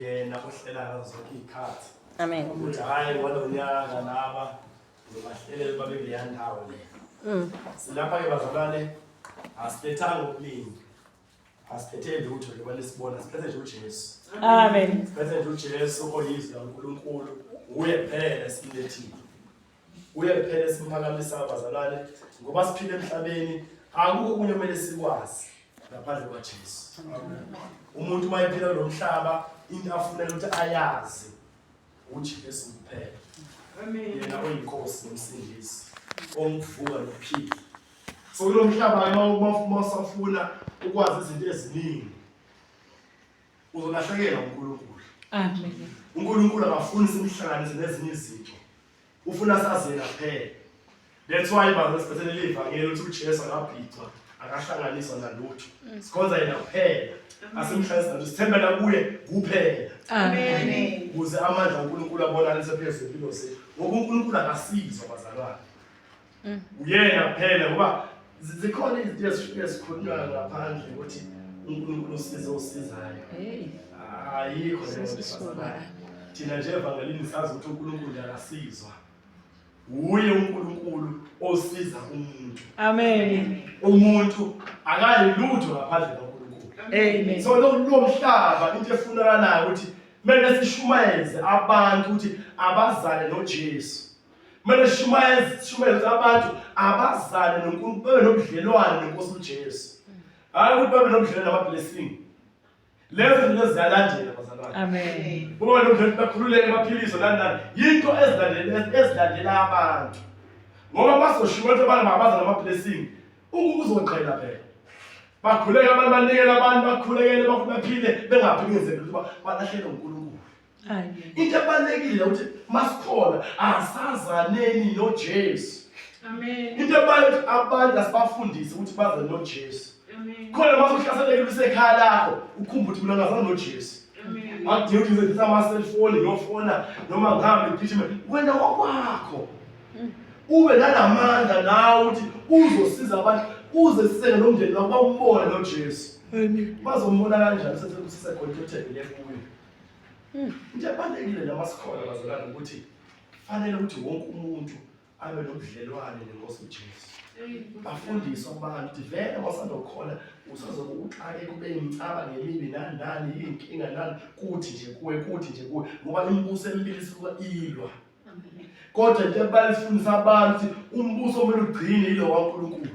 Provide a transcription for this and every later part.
yena ohlela ngazo zonke iy'khathi amen ukuthi hhayi ngalo nyaka laba ngibahlelele babe kuleya ndawo le Mm. silapha-ke bazalwane asithethanga okuningi asithethe lutho njengoba nisibona siphethe nje ujesu amen siphethe nje ujesu oyizwi lankulunkulu nguye kuphela esilethile Kuye kuphela esimphakamisa abazalwane ngoba siphila emhlabeni akukho okunye kumele sikwazi ngaphandle kwaJesu. Umuntu uma ephila lo mhlaba into afunela ukuthi ayazi uJesu kuphela. Yena oyinkosi nomsindisi omvuka nophila. So kulo mhlaba uma usafuna ukwazi izinto eziningi uzolahlekelwa uNkulunkulu. Amen. UNkulunkulu akafuni simhlanganise nezinye izinto. Ufuna sazi yena kuphela. That's why bazo sibethele livangeli ukuthi uJesu akabhicwa, akahlanganiswa nalutho. Mm. Sikhonza yena kuphela. Mm. Asimhlanganise nalutho. Sithembela kuye kuphela. Amen. Kuze amandla uNkulunkulu abonakalise phezulu impilo zethu. Ngoba uNkulunkulu akasizwa bazalwane. Mm. Uyena kuphela ngoba zikhona izinto ezifike zikhulunywa ngaphandle ukuthi uNkulunkulu usize osizayo. Ayikho leyo nto. Thina nje evangelini sazi ukuthi uNkulunkulu akasizwa. Wuye uNkulunkulu osiza umuntu. Amen. Umuntu akayi lutho ngaphandle kaNkulunkulu. Amen. So lo mhlaba into efunakalayo ukuthi kumele sishumayeze abantu ukuthi abazale noJesu. kumele sishumayele abantu abazane noNkulunkulu babe nobudlelwane nenkosi uJesu hayi ukuthi babe nobudlelwane namablessing lezo zinto ziyalandela bazalwane amen uma nobudlelwane bakhululeke baphilise nani nani yinto ezilandela ezilandela abantu ngoba basoshiwa ukuthi abantu mabaza namablessing ukuzoqhela phela bakhuleke abantu banikele abantu bakhulekele baphile bengaphikizeli ukuthi balahlele uNkulunkulu into ebalulekile ukuthi masikhona asazaneni nojesu into ebalulekile ukuthi abantu asibafundise ukuthi baze nojesu khona uma uhlaseleke usekhaya lakho ukhumba ukuthi mina ngazana nojesu akudingi ukuthi ngisebenzisa amaselfoni ngiyofona noma ngihambe ngigijime wena wakwakho mm. ube nanamandla nawe ukuthi uzosiza abantu uze sisele nomndeni wakho bawubone nojesu bazombona kanjani sesekusisekhona into ethembele kuyo Hmm. Into ebalulekile noma sikhona bazalwane ukuthi fanele ukuthi wonke umuntu abe nobudlelwane nenkosi uJesu. Bafundise abantu ukuthi vele wasandokhona usazobe uxake kube imcaba ngemibi nani nani inkinga nani kuthi nje kuwe kuthi nje kuwe ngoba imibuso emibili isuka ilwa. Kodwa into ebalifundisa abantu umbuso omele ugcine ilo waNkulunkulu.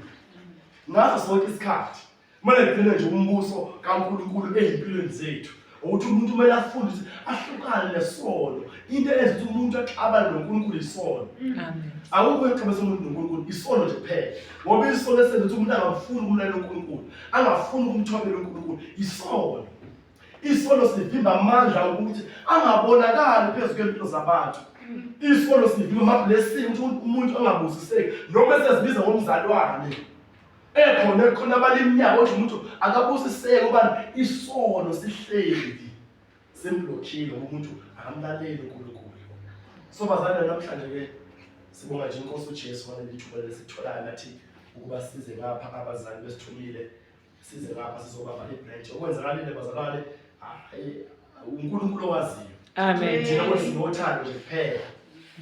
Ngaso sonke isikhathi kumele ngigcine nje umbuso kaNkulunkulu ezimpilweni zethu ukuthi umuntu kumele afunde ukuthi ahlukane nesono into eyenza ukuthi umuntu axabane noNkulunkulu isono akukho exabisa umuntu noNkulunkulu isono nje kuphela ngoba isono esenza ukuthi umuntu angafuni ukumlalela uNkulunkulu angafuni ukumthobela uNkulunkulu isono isono sivimba amandla ukuthi angabonakali phezu kwempilo zabantu isono sivimba amablessing ukuthi umuntu angabusiseki noma esezibiza ngomzalwane ekhona ekhona abalimnyaka othi umuntu akabusiseke ubani isono sihleli simlokhile umuntu akamlaleli uNkulunkulu so bazalwane namhlanje ke sibonga nje inkosi uJesu ngaleli thuba lesitholayo nathi ukuba size ngapha abazali besithumile size ngapha sizobamba ibranch okwenzakalile bazalwane hayi uNkulunkulu owaziyo amen thina kodwa sinothando nje kuphela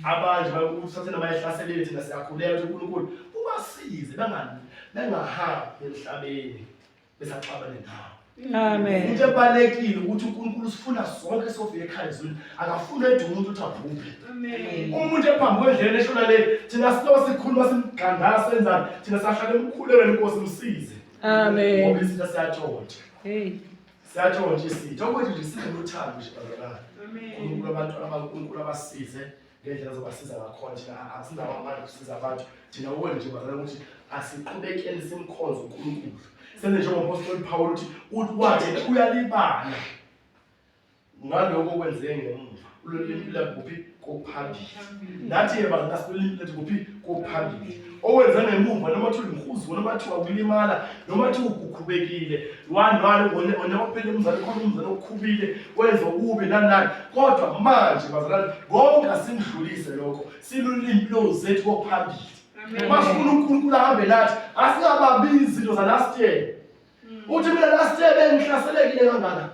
abanje bakuthi noma ehlaselile thina siyakhuleka ukuthi uNkulunkulu ubasize bangani bengahambi emhlabeni besaxabane nawo Amen. Into ebalekile ukuthi uNkulunkulu usifuna sonke sofika ekhaya ezweni. Akafuni ethi umuntu uthi abhubhe. Amen. Umuntu ephambi kwendlela eshona le thina sinoba sikhuluma simgandasa senzani thina sahlale emkhulelweni inkosi msize. Amen. Ngoba isinto siyatshontsha. Hey. Siyathola nje sithi okwethu nje sineluthando nje bazalwane. Unkulunkulu abantu abankulunkulu abasize ngendlela zobasiza ngakhona thina asinawo amandla kusiza abantu thina ubone nje bazalwane ukuthi asiqhubekeni simkhonze unkulunkulu senze njengompostoli phawula ukuthi uthi wathi uyalibala ngaloko okwenzeke ngemuva ulolimi lwethu kuphi kophambili nathi yeba ngaso ulimi lwethu kuphi kophambili owenza ngemuva noma thi uyihuzi noma thi wakulimala noma thi ugukhubekile wanwalo onewaphela umzali khona umzali okukhubile wenza okubi nanani kodwa manje bazalwane konke asimdlulise lokho silulimi lozethu kophambili uma sifuna unkulunkulu ahambe nathi asingababi izinto zalast year uthi mina last year bengihlaselekile kangaka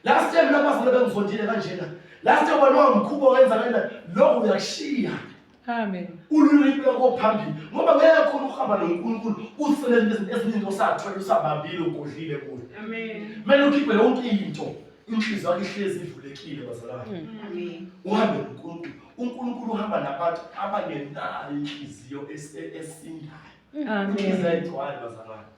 last year mina bazali bengizondile kanjena last year wena wangikhuba wenza kanjena lokho uyakushiya Amen. Ululimi lwakho phambili ngoba ngeke khona ukuhamba noNkulunkulu usebenze izinto eziningi osathwele usabambile ugodlile kuyo. Amen. Mele ukhiphe yonke into inhliziyo yakho ihlezi ivulekile bazalwane. Mm. Amen. Uhambe noNkulunkulu. UNkulunkulu uhamba nabantu abangenayo inhliziyo e-, esindayo. Amen. Inhliziyo ayigcwali bazalwane.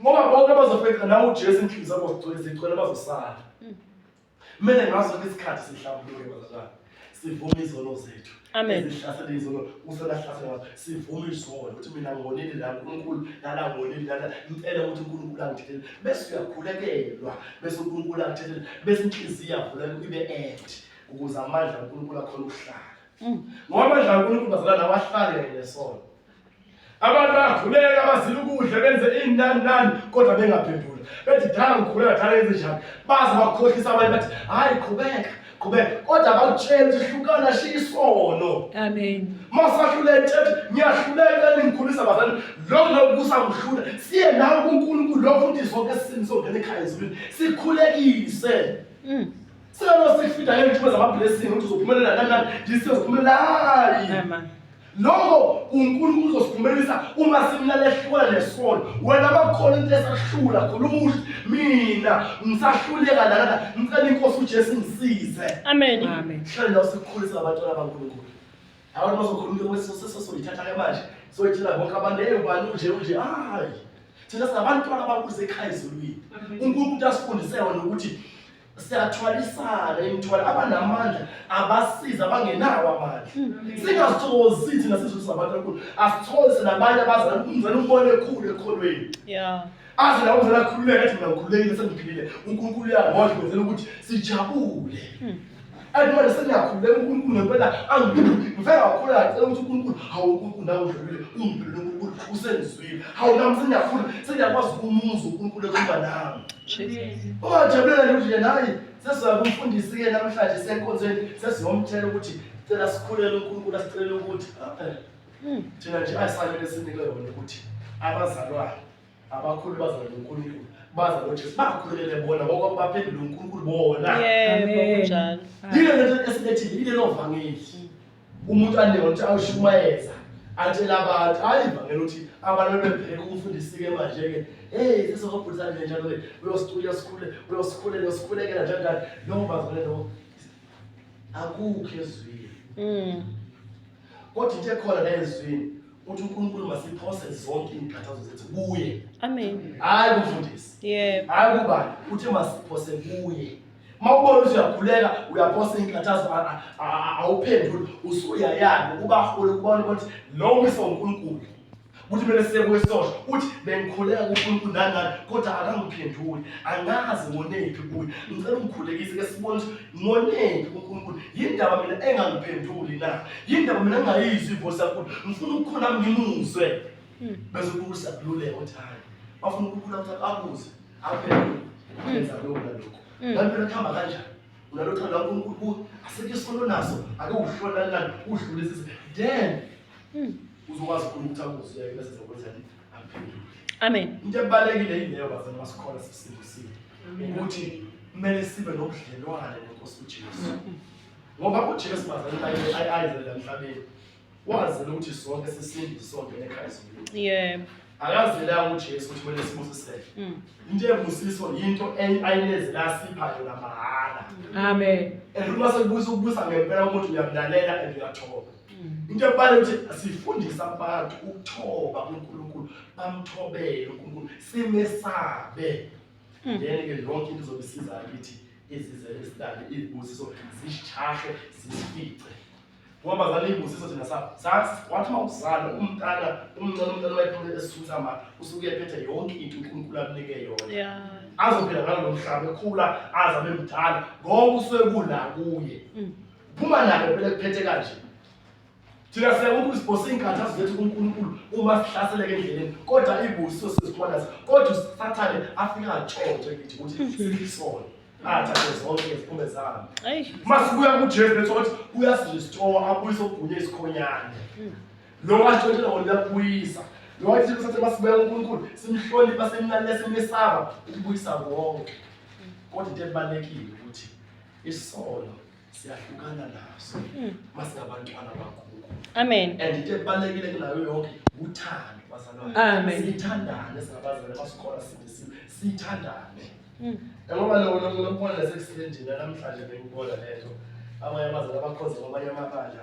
ngoba bonke abazofeqa la ujesu inhliziyo zabo zigcwele zigcwele bazosala mm. kumele ngaso ke isikhathi sihlambuluke bazalwane sivume izono zethu ezihlasela izono uselahlasela sivume izono ukuthi mina ngonile la unkulunkulu lala ngonile lala ngicela ukuthi unkulunkulu angithethelele bese uyakhulekelwa bese unkulunkulu angithethelele bese inhliziyo yavuleka ibe ende ukuze amandla unkulunkulu akhona ukuhlala mm. ngoba amandla unkulunkulu bazalwane awahlale kanye nesono Abantu bayakhuleka bazila ukudla benze inani nani kodwa bengaphendula. Bethi dala ngikhuleka dala yenze njani? Baze bakhohlisa abanye bathi hayi qhubeka qhubeka kodwa bakutshela ukuthi hlukana shiya isono. Amen. Masahluleke ethi ngiyahluleka ningikhulisa bazali lokho lokho kusamhlula siye nawe kuNkulunkulu lokho futhi sonke sisini songena ekhaya ezulwini sikhulekise. Mm. Singalo sifida ngentuba zama blessing ukuthi uzophumelela kanjani. Jesus uphumelela. Amen. Lokho uNkulunkulu uzosikhumbelisa uma simlala ehlula nesono. Wena bakhona into esahlula khona umuhle mina ngisahluleka lana ngicela inkosi uJesu ngisize. Amen. Amen. Hlale nawe sikukhulisa abantwana baNkulunkulu. Abantu bazokhuluma into kwesisese soyithatha ke manje. Soyithela bonke abantu hey ubani unje unje hayi. Thina sinabantu abakuzekhayizelweni. UNkulunkulu asifundise wona ukuthi siyathwalisana imithwalo abanamandla abasiza abangenawo amandla mm. singazithokozi thina sizwe sabantu akhulu asithokoze nabanye abazala umzala umbone ekhulu ekholweni aze lawo mzala akhululeke athi mina ngikhululekile sengiphilile unkulunkulu uyangondla kwenzela ukuthi sijabule mm. Akumele sengiyakhuleka uNkulunkulu ngempela angivele kakhulu ngacela ukuthi uNkulunkulu hawu uNkulunkulu nawe udlulile ungiphelele uNkulunkulu usengizwile hawu nami sengiyafuna sengiyakwazi ukumuza uNkulunkulu ekhumba nami ungajabulela nje ukuthi yena hayi sesizoya kumfundisi-ke namhlanje senkonzweni sesizomtshela ukuthi cela sikhulele uNkulunkulu asicelele ukuthi hmm. thina nje ayisamele sinike yona ukuthi abazalwane abakhulu bazalwa noNkulunkulu baza noJesu bakhulumele bona ngoba baphendula uNkulunkulu bona yebo kunjalo yile lento esilethile yile lovangeli umuntu aneyona ukuthi awushumayeza atshela abantu hayi ivangeli ukuthi abantu bebheke ukufundisike manje-ke heyi sesizobhudisa nje njalo ke uyosikhule uyosikhule uyosikhulekela njalo njalo lowo bazalelo akukho ezwini mm. Kodwa into ekhona la ezwini uthi uNkulunkulu masiphose zonke izinkathazo zethu kuye. Amen. Hayi kumfundisi. Yebo. Hayi kuba uthi masiphose kuye. Mawubona ukuthi uyakhuleka uyaphose izinkathazo awuphenduli usuyayana ukuba hole kubona ukuthi lo mfundisi uNkulunkulu ukuthi kumele siye kuye sosho uthi bengikhuleka kunkulunkulu nani nani kodwa akangiphenduli angazi ngonephi kuye ngicela ungikhulekise ke sibone ukuthi ngonephi kunkulunkulu yini ndaba mina engangiphenduli na yini ndaba mina engayizwi ivosi yakhulu ngifuna ukukhula ngimuzwe hmm. bese kukhulu siyakululeka ukuthi hayi bafuna ukukhula ukuthi akuze aphendule hmm. yenza lokhu nalokhu hmm. kanti phela kuhamba kanjani unalothando lankulunkulu kuwe asekho isono naso ake uhlolelani udlulise then Hmm. Uzokwazi khona ukuthi akuzwe bese zokwenza amphendule. Amen. Into ebalekile yileyo bazana masikhola sisindisiwe. Ukuthi kumele sibe nobudlelwane noNkosi uJesu. Hmm. Ngoba uJesu bazana ayizela emhlabeni. Wazela ukuthi sonke sisinde sonke nekhaya zonke. Yebo. Akazelanga uJesu ukuthi kumele sibusiseke. Hmm. Into ebusiso yinto ayinezela sipha yona mahhala. Amen. And uma sekubusa ukubusa ngempela umuntu uyamlalela and uyathoba. into ebale ukuthi sifundisa abantu ukuthoba kuNkulunkulu bamthobele uNkulunkulu simesabe hmm. then ke yonke into izobe isizayo ukuthi izizele isidale izibusiso zishahe zisifice ngoba zale izibusiso thina sa wathi uma uzala umntana umncane umntana wayephumele esisusa ma usuke ephethe yonke into uNkulunkulu abunike yona azophila ngalo mhlaba ekhula azabe mdala ngoba usuke kula kuye hmm. phuma nalo phela kuphethe kanje thina siyabona ukuthi sibhose iy'nkathazo zethu kunkulunkulu uma sihlaseleke endleleni kodwa ibusiso sizikhwanaza kodwa usathane afike atshontshe ngithi ukuthi siyisona athathe zonke izikhumbe zami uma sibuya kujesu bethu ukuthi uyasirestore abuyise ogunye isikhonyane lo washontshela wona uyakubuyisa lo wathi kusathe uma sibuya kunkulunkulu simhlonipha simlalele simesaba ukubuyisa konke kodwa into ebalulekile ukuthi Isono siyahlukana naso hmm. masingabantwana bakhulu. Amen. And into ebalekile kunayo yonke uthando bazalwane. Amen. Sithandane singabazalwane basikora sindisiwe. Sithandane. Hmm. Ngoba lo lo lo mfana sekusendina namhlanje bengibona lento. Abanye abazalwane bakhoza kwabanye amabandla.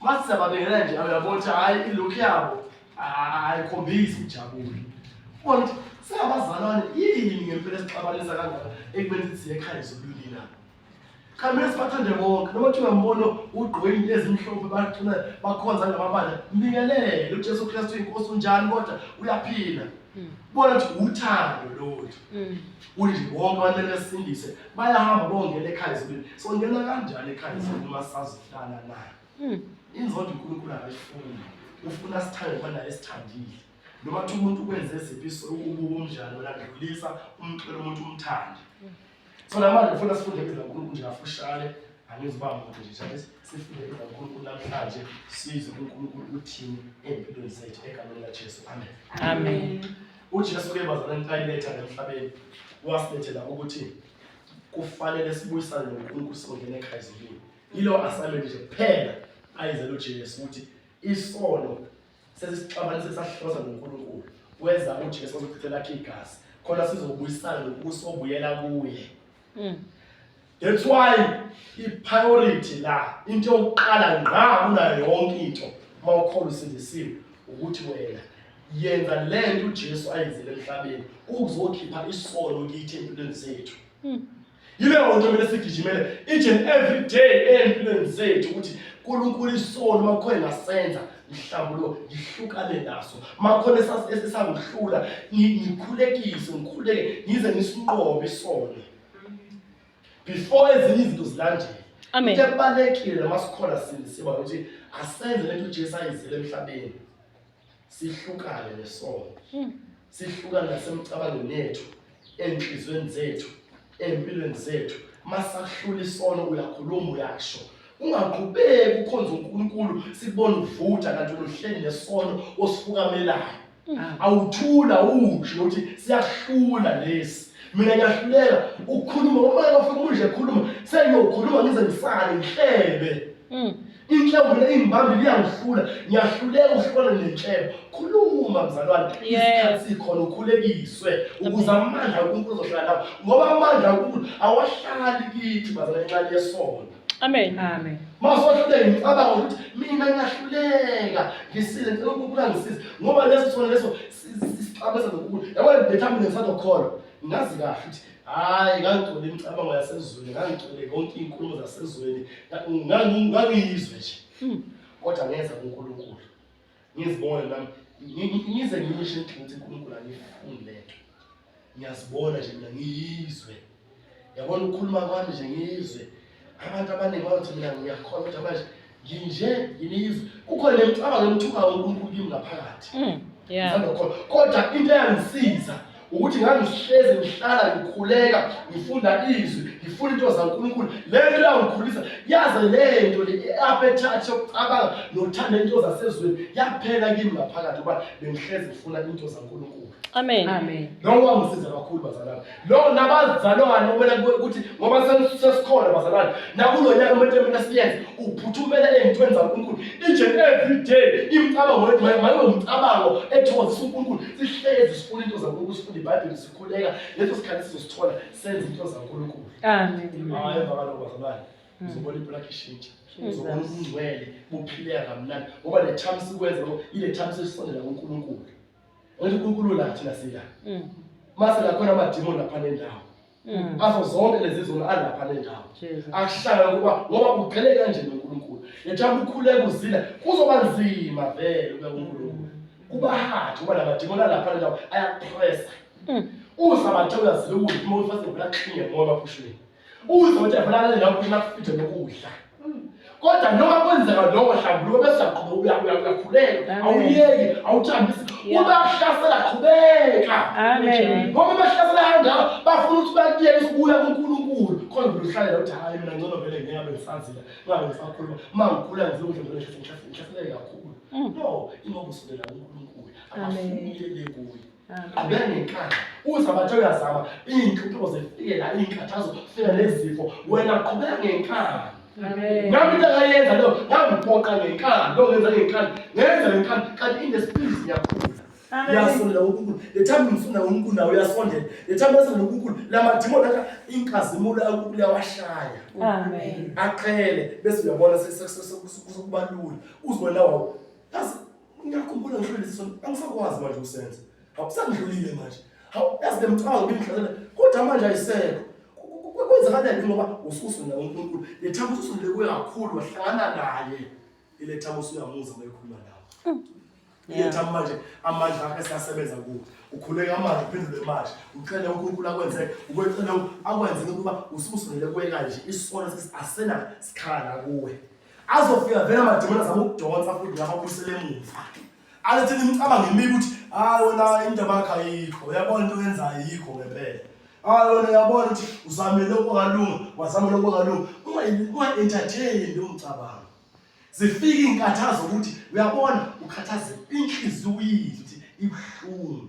Mase sababingelela nje uyabona ukuthi hayi ilook yabo ayikhombisi ijabule. Ubona ukuthi singabazalwane yini ngempela esixabanisa kangaka ekubeni sithi siye ekhaya zobulili na? Khamele sibathande bonke noma kuthiwa mbono ugqoke into ezimhlophe bacula bakhonza ngamabala mbingelele uJesu Kristu inkosi unjani kodwa uyaphila. Bona ukuthi uthando lolu. Kunje bonke abantu besindise bayahamba bongena ekhaya ezulwini. Songena kanjani ekhaya ezulwini uma sazihlala naye? Hmm. Inzondo uNkulunkulu akayifuni. Ufuna sithande khona esithandile. Noma kuthi umuntu ukwenze eziphi ubuka umdlalo landlulisa umxele umuntu umthande. Hmm. So namanje ufuna sifunde ibizo likaNkulunkulu nje kafushane angiziba muntu nje njalo sifunde ibizo likaNkulunkulu namhlanje sizwe uNkulunkulu uthini empilweni zethu egameni likaJesu. Amen. Amen. uJesu ke bazalwane ntayiletha emhlabeni wasilethela ukuthi kufanele sibuyisane noNkulunkulu singene ekhaya ezulwini yilo assignment nje kuphela ayizela uJesu ukuthi isono sesisixabanise sahlosa noNkulunkulu wenza uJesu ozochithe lakhe igazi khona sizobuyisana nokusobuyela kuye mm. That's why i-priority la into yokuqala ngqa kunayo yonke into uma ukhona usindisiwe ukuthi wena yenza le nto uJesu ayenzile emhlabeni ukuzokhipha isono kithi empilweni zethu hmm. yileyo nto kumele sigijimele each and every day ey'mpilweni zethu ukuthi nkulunkulu isono uma kukhona engasenza mhlawumbe ngihlukane naso makhona esangihlula ngikhulekise ngikhuleke ngize ngisinqobe isona before ezinye izinto zilandele Amen. into ebalekile noma sikhona sindisiwa ukuthi asenze lento ujesu ayizile emhlabeni sihlukane nesono hmm. sihlukane nasemcabangweni yethu enhliziyweni zethu empilweni zethu masahlula isono uyakhuluma uyasho ungaqhubeki ukhonza uNkulunkulu sibone uvutha kanti uluhleni nesono osifukamelayo awuthula unje uthi siyahlula lesi mina ngiyahluleka ukukhuluma umoya bafika unje ekhuluma sengiyokhuluma ngize ngisale ngihlebe mm. inhlebo mina ingibambi liyangihlula ngiyahluleka uhlukana nenhlebo khuluma mzalwane isikhathi sikhona ukhulekiswe ukuze amandla unkulunkulu uzohlala nawo ngoba amandla unkulunkulu awahlali kithi bazalwane incane yesona Amen. Amen. Masohlule ngicabanga ukuthi mina ngiyahluleka ngisile ngicela ukubuka ngisize ngoba leso sona leso sixabeza nokubuka yabona bethu mina ngisazokholwa ngazi kahle ukuthi hayi ngangigcwele imicabango yasezweni ngangigcwele yonke iy'nkulumo zasezweni ngangiyizwe nje hmm. kodwa ngeza kunkulunkulu ngizibona nami ngize ngimishe ukuthi uNkulunkulu angifuni lento ngiyazibona nje mina ngiyizwe yabona ukukhuluma kwami nje ngiyizwe abantu abaningi bayothi mina ngiyakholwa kodwa manje nginje ngiyizwe kukhona nemicabango emthukayo uNkulunkulu kimi ngaphakathi mm, kodwa into eyangisiza ukuthi ngangihlezi ngihlala ngikhuleka ngifunda izwi ngifuna into zankulunkulu le nto yangikhulisa yaze le nto le i-appetite yokucabanga nokuthanda into zasezweni yaphela kimi ngaphakathi uba bengihlezi ngifuna into zankulunkulu amen amen lowo wangisiza kakhulu bazalwane lowo nabazalwane okumele ukuthi ngoba sesikhona bazalwane nakulo nyaka umuntu emele siyenze uphuthumela ey'ntweni zankulunkulu each and every day imicabango yethu mayibe umcabango ethokozisa unkulunkulu sihlezi sifuna into zankulunkulu sifunde ibhayibheli sikhuleka leso sikhathi sizosithola senze into zankulunkulu amen emva kaloko bazalwane hmm. uzobona ibulakhe ishintsha uzobona ubungcwele buphileka kamnandi ngoba le time sikwenza lo ile time sesisondela kunkulunkulu ngoba unkulunkulu la thina siya hmm. mase lakhona amadimoni lapha nendawo Mm. azo zonke lezi zona alapha le ndawo akuhlala ngoba ngoba ugcele kanje noNkulunkulu yethanda ukhuleka uzila kuzoba nzima vele ube uNkulunkulu kuba hard kuba lamadimoni alapha le ndawo ayakupressa mm. uza bathe uyazile ukuthi uma ufase ngibula klinye ngoba phushweni uza bathe yabulala le ndawo phela kufithe nokudla kodwa noma kwenzeka lokho hlambuluko bese uyaqhubeka uyakuya uyakhuleka awuyeki awuthambisi uba kuhlasela qhubeka amen ngoba bahlasela kanjalo bafuna ukuthi bakuyeke ukubuya kuNkulunkulu khona uhlalela uthi hayi mina ngcono vele ngeke ngabe ngisazila ngabe ngisakhuluma uma ngikhula ngize ukuthi ngeke ngihlaseleke kakhulu mm. no ingoba usondela kuNkulunkulu akafuni uyeke kuye abengenkani uza bathi uyazama iy'nhlupho zifike la iy'nkathazo fika nezifo wena qhubeka ngenkani nami into akayenza leyo ngangiphoqa ngenkani lo ngenza ngenkani ngenza ngenkani kanti inesiphizi ngiyakhula uyasondela uNkulunkulu lethami ngifuna uNkulunkulu nawe uyasondela lethami uyasondela uNkulunkulu lamadimoni akha inkazimulo uNkulunkulu yawashaya amen aqhele bese uyabona sekubalula uzibona wawo Ngiyakhumbula ngishilo lesi sono, angisakwazi manje ukusenza. Awusangidlulile manje. Hawu, yazi bemcabanga bengidlalela. Kodwa manje ayisekho. Kwenzakalani ngoba ususu nawo uNkulunkulu. Lethaba ususu ndikuye kakhulu wahlangana naye. Ilethaba usuyamuza uma ekhuluma nawe. Mm. Lethaba manje amandla akhe siyasebenza kuwe. Ukhuleka amandla uphendule manje. Ucela uNkulunkulu akwenze ukwecela akwenze ukuba ususu ndikuye kanje. Isona sesi asena sikhala kuwe. azofika vele amadimona zama ukudonsa futhi ngababuyisele emuva alethe nimcabanga emibi ukuthi hayi wena indaba yakho ayikho uyabona into oyenzayo ayikho ngempela hayi wena uyabona ukuthi uzamele okungalunga wazamela okungalunga unga-entertaini leyo mcabango zifike iy'nkathazo ukuthi uyabona ukhathazeka inhliziyo uyizwe ukuthi ibuhlungu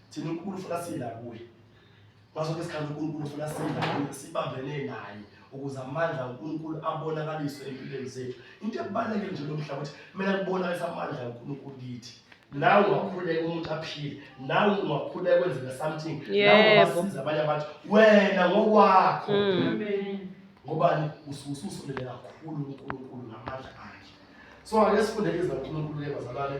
Thina uNkulunkulu ufuna sila kuye. Ngaso ke isikhathi uNkulunkulu ufuna sila kuye sibambene naye ukuze amandla uNkulunkulu abonakaliswe empilweni zethu. Into ebalulekile nje lomhlaba ukuthi mina kubonakalisa amandla uNkulunkulu kithi. Nawe ungakhuleka umuntu aphile, nawe ungakhuleka kwenzeka something, nawe ungasiza abanye abantu wena ngokwakho. Mm. Amen. Ngobani usususondele kakhulu uNkulunkulu ngamandla akhe. So ake sifunde izwi laNkulunkulu ke bazalwane.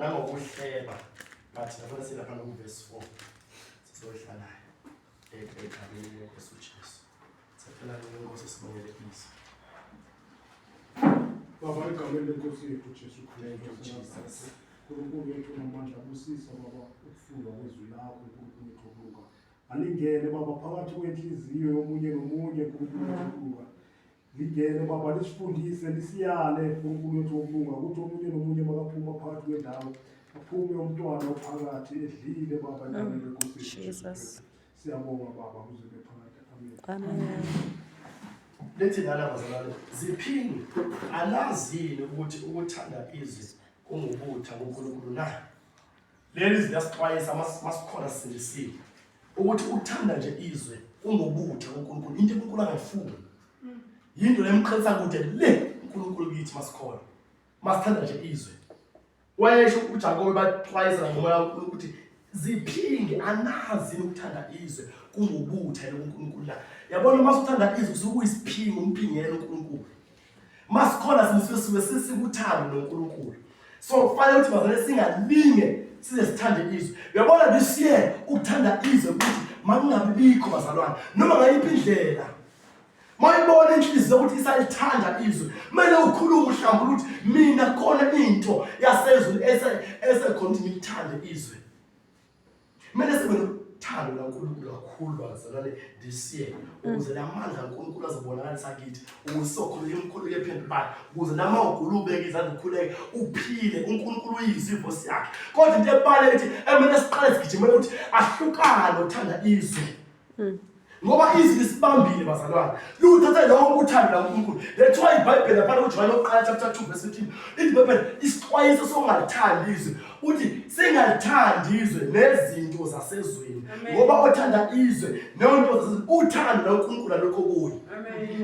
nangokuhleba bathi nabona silapha nokuvesi 4 sizohlalayo egameni lenkosi ujesu saphela ngenkosi sibongele ibizo baba egameni lenkosi yethu ujesu kristu nkulunkulu yethu namandla busisa baba ukufundwa kwezwi lakho nkulunkulu yethu okuluka alingene baba phakathi kwenhliziyo yomunye nomunye nkulunkulu yethu okuluka Ligele baba lisifundise lisiyale uNkulunkulu wethu wokulunga ukuthi omunye nomunye makaphuma phakathi kwendawo aphume umntwana ophakathi edlile baba endaweni mm. yenkosi Jesus siyabonga baba kuze bephakathi amen amen lethi lala bazalwane ziphinde alazini ukuthi ukuthanda izwi kungubutha kuNkulunkulu na Leli izwi liyasixwayisa mas- masikhona sisindisiwe ukuthi ukuthanda nje izwe kungobutha kuNkulunkulu into uNkulunkulu angayifuni yinto lemqhelisa kude le uNkulunkulu kithi masikhona masithanda nje izwe wayesho uJakobe baxwayisa ngomoya kaNkulunkulu ukuthi ziphinge anazi yini ukuthanda izwe kungobutha yini uNkulunkulu na yabona uma usuthanda izwe usuke uyisiphingo umphingela uNkulunkulu masikhona simusuke suke sisikuthando noNkulunkulu so kufanele ukuthi bazane singalinge size sithande izwe uyabona this year ukuthanda izwe ukuthi makungabi bikho bazalwane noma ngayiphi indlela mayibona inhliziyo ukuthi isalithanda izwe kumele ukhulume uhlambula ukuthi mina khona into yasezulu esekhona ukuthi ngilithande izwe kumele sibe nothando lankulunkulu kakhulu bazalwane this year ukuze la mandla kankulunkulu azobonakalisa kithi ukuze sokhulula imkhulu yephendulayo ukuze nama ugula ubeke izandla ukhuleke uphile unkulunkulu uyizivo siyakhe kodwa into ebale ukuthi emele siqale sigijimele ukuthi ahlukane uthanda izwe hmm. ngoba izwi lisibambile bazalwane liwuthathe lonke uthando lakunkulunkulu that's why ibhayibheli laphana kujohane oqala chapter 2 verse 15 ibhayibheli isixwayiso sokungalithandi izwe uthi singalithandi izwe nezinto zasezweni ngoba othanda izwe neyonto zasezweni uthando lakunkulunkulu alukho kuye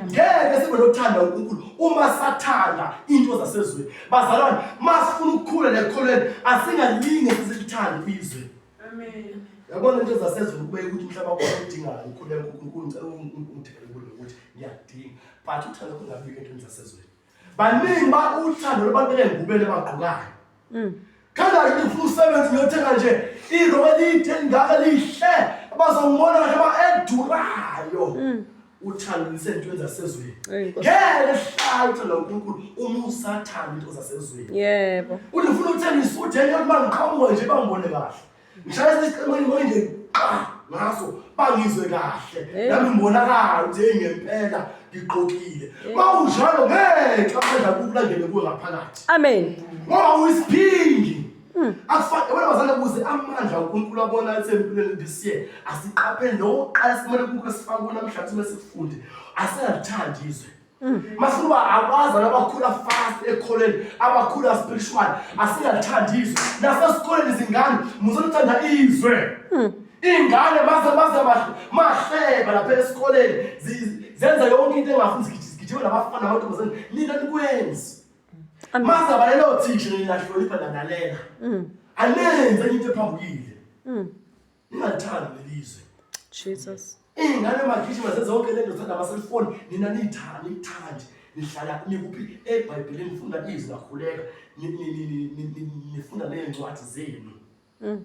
ngeke sibe nothanda unkulunkulu uma sathanda into zasezweni bazalwane uma sifuna ukukhula nekholweni asingalinge sizilithande izwe Amen. Yabona into zasezulu kube ukuthi umhlaba wakho udingayo ukhuleka uNkulunkulu ngicela ungithele kulo ukuthi ngiyadinga. But uthando kungabiki entweni zasezulu. Baningi ba uthando labantu engubele bagqokayo. Mm. Khanda yini ufuna usebenze ngiyothenga nje irobe elide elingaka lihle abazongibona kahle ba edurayo. Mm. uthando lisentweni zasezweni ngeke uhlathi lo nkulunkulu uma usathanda into zasezweni yebo uthi ufuna ukuthenga isuthi enye yokuba ngiqhamuka nje bangibone kahle ngishaya isiqemeni ngoyi nje qa ngaso bangizwe kahle nami ngibonakala ukuthi heyi ngempela ngigqokile uma unjalo ngeke aphela kukulandele kuwe ngaphakathi amen ngoba uyisiphingi Hmm. Akufani wena bazane kuze amandla uNkulunkulu abona asempilweni this year asiqaphele nokuqala simele kuke sifake kulo mhlathi mesifunde asingathandi izwe hmm. mafuna uba abaza nabakhula fast ekholeni abakhula spiritual asingathandi izwe nasesikoleni izingane muzothanda izwe hmm. iy'ngane maze maze mahleba lapha esikoleni zenza yonke into engafuni zigijima nabafana namantombazane nina nikwenzi Mazaba lelo thisha ngilahlonipha lanalela. Mm. Alenze into ephambukile. Mm. Ningathanda lelizwe. Jesus. Ingane magijima sezonke lento thanda amaselfoni nina nithanda nithandi nihlala nikuphi eBhayibhelini nifunda izwi lakhuleka nifunda nezincwadi zenu. Mm.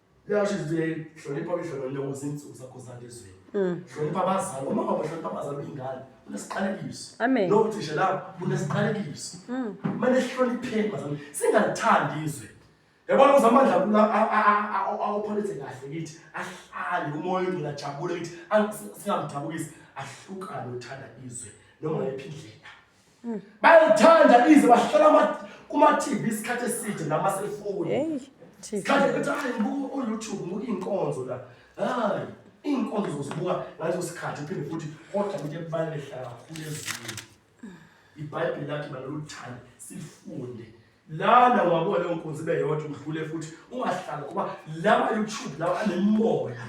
Yasho izibili hlonipha umhlolo lewo zinsuku zakho zande ezweni. Mm. Hlonipha abazali, uma ungabahlonipha abazali uyingane, unesiqalekiso. Amen. Lo uthisha la unesiqalekiso. Mm. Manje sihlonipheni bazali, singalithandi izwe. Yabona uzamandla kula awupholise kahle kithi, ahlale umoya ongcwele ajabule kithi, singamdabukisi ahlukane uthanda izwe noma yiphi indlela. bayithanda ize bahlala kuma-tv isikhathi eside namaselfoni sikhathi ukuthi hayi buka oyoutube buka iy'nkonzo la hayi iy'nkonzo zozibuka ngaleso sikhathi uphinde futhi kodwa into ebalulekela kakhulu ezinye ibhayibheli lakhe baloluthanda sifunde lana ungabona leyo nkonzo ibe yodwa udlule futhi ungahlali kuba lawa youtube lawa anemimoya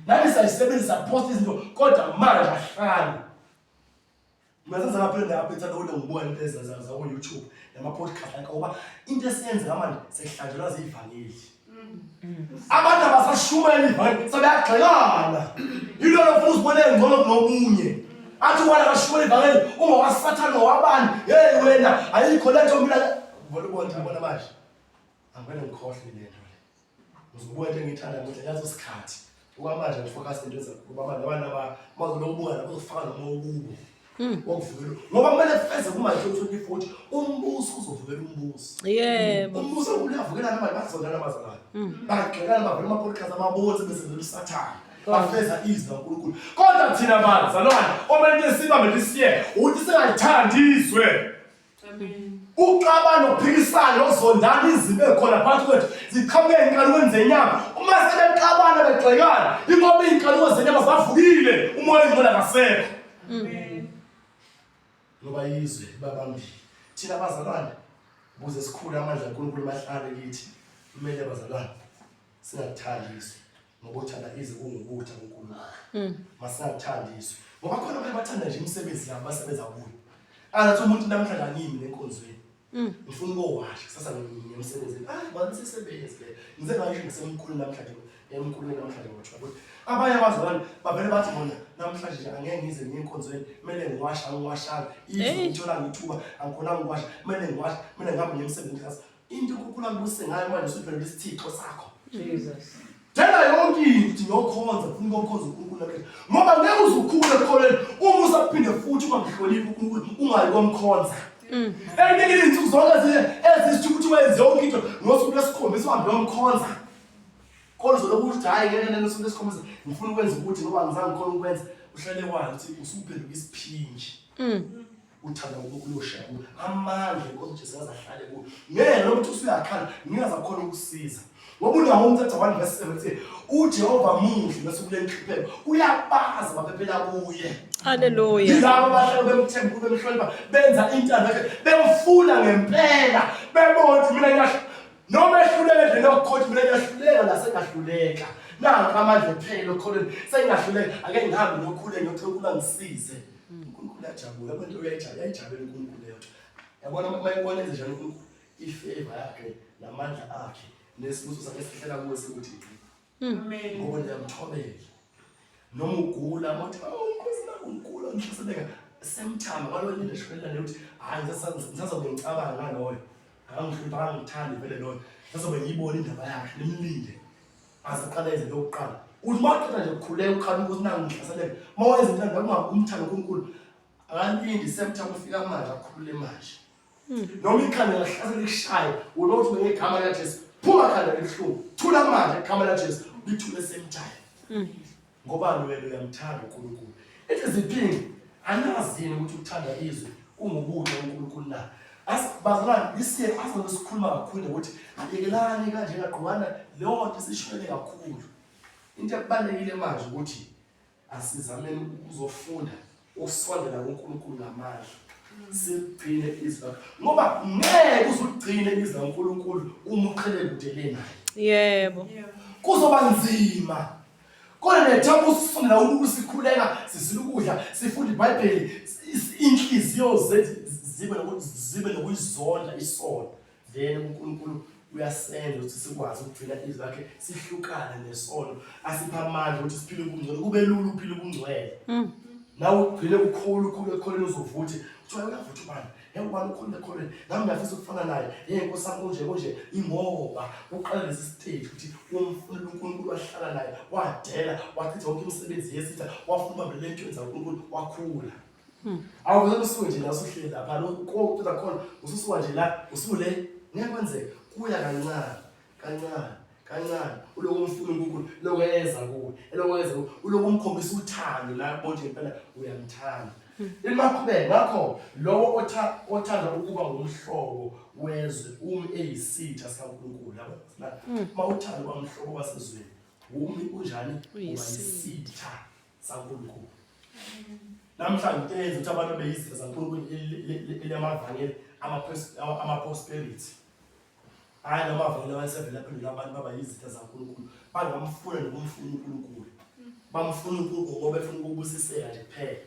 nani sayisebenzisa post izinto kodwa manje ahlali Masazama phinde apho ithanda ukuthi ngibona into ezenza za ku YouTube nama podcast akho ngoba into esiyenza manje sehlanjelwa zivangeli. Abantu abasashumela ivangeli sebeyagxekana. Yilo lo futhi ubone ngcono kunobunye. Athi wala kashumela ivangeli uma wasathana wabani hey wena ayikho lento mina ngibona ubona manje. Angibene ngikhohle lento. Uzobuka into engiyithanda manje ngathi usikhathi. Uba manje ngifocus into ezayo. Uba manje abantu aba bazobe ubuka lapho uzofaka noma ukubo. Mm. Wokuvukela. Ngoba kumele feze kuma 2040 umbuso uzovukela umbuso. Yebo. Umbuso uyavukela noma bazonana bazalana. Mm. Bagxekana bavela ama podcast ababonze bese belusathana. bafeza izwi kaNkulunkulu kodwa thina bantu zalwana omele sibambe lisiye ukuthi singalithandi izwe uxabana ukuphikisana nokuzondana izibe khona phakathi kwethu ziqhamuke ey'nkalukweni zenyama uma sebexabana begxekana ingoba iy'nkaluko zenyama zavukile umoya engcola ngasekho ngoba yizwe babambile thina bazalwane ukuze sikhule amandla kankulunkulu mahlale kithi kumele bazalwane singakuthandi izwe ngokuthanda ize kungukutha kuNkulunkulu mm. masingakuthandi izwe ngoba khona abantu bathanda nje imisebenzi yabo basebenza kuyo angathi umuntu namhlanje angimi nenkonzweni mm. ngifuna ukowasha kusasa ngiye emsebenzini ah bantu sisebenzi le ngize ngisho ngisemkhulu namhlanje emkhulu namhlanje ngothiwa ukuthi abanye abazalwane bavele bathi bona namhlanje nje angeke ngize ngiye enkonzweni kumele ngiwasha angiwashanga izwe ngithola ngithuba angikhona ngiwasha kumele ngiwasha kumele ngihambe ngiye emsebenzini Into ukukhula ngibuse ngayo manje usudlala isithixo sakho. Jesus. Dela yonke into yokhonza ufuna ukukhonza uNkulunkulu nakhe. Ngoba ngeke uzukhule ekholeni uma usaphinde futhi ungamhloniphi uNkulunkulu ungayi komkhonza. Mm. Eyiningi izinsuku zonke ezinye ezisho ukuthi wenze yonke into ngosuku lesikhombisa uhambe yomkhonza. Kodwa uzoloku ukuthi hayi ngeke nene usuku lesikhombisa ngifuna ukwenza ukuthi ngoba ngizange ngikhona ukwenza uhlale wazi ukuthi usuphenduka isiphinji. Mm. uthanda ngokuloshela kuwe amandla inkosi jesu ngaze ahlale kuwe ngeke noma ukuthi usuyakhala ngingaze akhona ukusiza ngoba unawo umthetho one verse seventeen ujehova muhle bese kule nhlupheko uyabazi baphephela kuye haleluya yilabo abahlala bemthemba kube mhlonipha benza intando yakhe bemfuna ngempela bebona ukuthi mina ngiyahla noma ehluleka endleni yokukhotha mina ngiyahluleka nasengahluleka nanka amandla ephele okholweni sengingahluleka ake ngihambe nokhule ngiyothola ukuba ngisize uNkulunkulu yajabula abantu uyayijabula yayijabula uNkulunkulu leyo yabona uma ibona enze njalo uNkulunkulu ifavor yakhe namandla akhe nesibuso sakhe sihlela kuwe sikuthi hmm. amen ngoba ndiyamthobela noma ugula mothi awunkosi oh, nakungula ngihlasebeka semthama ngalo linde shwela ukuthi hayi ngisazobe ngicabanga ngaloyo akangihlupha angithandi vele loyo ngisazobe ngiyibona indaba yakhe nimlinde Asiqale izinto okuqala. Uthi maqeda nje kukhuleka ukhanuka ukuthi nangu ngihlaseleke. Mawenza into ngokungaku umthando kuNkulu. Akalindi semtha kufika manje akhulule manje. Hmm. Noma ikhanda lahlasela ikushaye ulothi ngegama likaJesu. Phuma khanda elihlungu. Thula manje igama likaJesu. Lithule semthayo. Hmm. Ngobani wena uyamthanda uNkulunkulu? Ethi ziphingi anazi yini ukuthi ukuthanda izwe kungubuhle uNkulunkulu na? Bazalwane isiye azobe sikhuluma kakhulu ukuthi abekelani kanje kagqwana leyo nto sishwele kakhulu. Into ebalekile manje ukuthi asizameni ukuzofunda ukusondela kuNkulunkulu ngamazwi sigcine izwi ngoba ngeke uzugcine izwi laNkulunkulu uma uqhele kude lenayo yebo kuzoba nzima kodwa nethemba usifundela ukuthi sikhuleka sizila ukudla sifunda ibhayibheli inhliziyo zethu zibe nokuzizonda isona then uNkulunkulu uyasenza ukuthi sikwazi ukugcina izwi lakhe sihlukane nesono asipha amandla ukuthi siphile ubungcwele kube lula uphile ubungcwele mm. nawe ugcine ukhulu ukhulu ekholeni uzovuthi kuthiwa uyavutha ubani yawubani ukhulu ekholeni nami ngiyafisa ukufana naye yeye nkosi yami kunje kunje ingoba uqala lesi stage ukuthi umfunela unkulunkulu wahlala naye wadela wachitha wonke imisebenzi yesitha wafuna ubambelele entweni zakunkulunkulu wakhula awuvele usuke nje la usuhleli lapha lo kokucela khona ususuka nje la usule ngeke kwenzeke kuya kancane kancane kancane uloku umfuna uNkulunkulu lokho eyenza kuwe elokho eyenza kuwe uloku umkhombisa uthando la bonje ngempela uyamthanda imakhubeke ngakho lowo othanda ukuba ngumhlobo wezwe umi eyisitha sikaNkulunkulu yabo uma uthanda uba mhlobo wasezweni umi unjani uba yisitha saNkulunkulu. Namhlanje yenza ukuthi abantu beyizitha zaNkulunkulu elilamavangeli ama-prosperity. Hhayi la mavangeli abasevele aphendula abantu baba yizitha zaNkulunkulu bangamfuna nokumfuna uNkulunkulu. Bamfuna uNkulunkulu ngoba befuna ukubusiseka nje kuphela.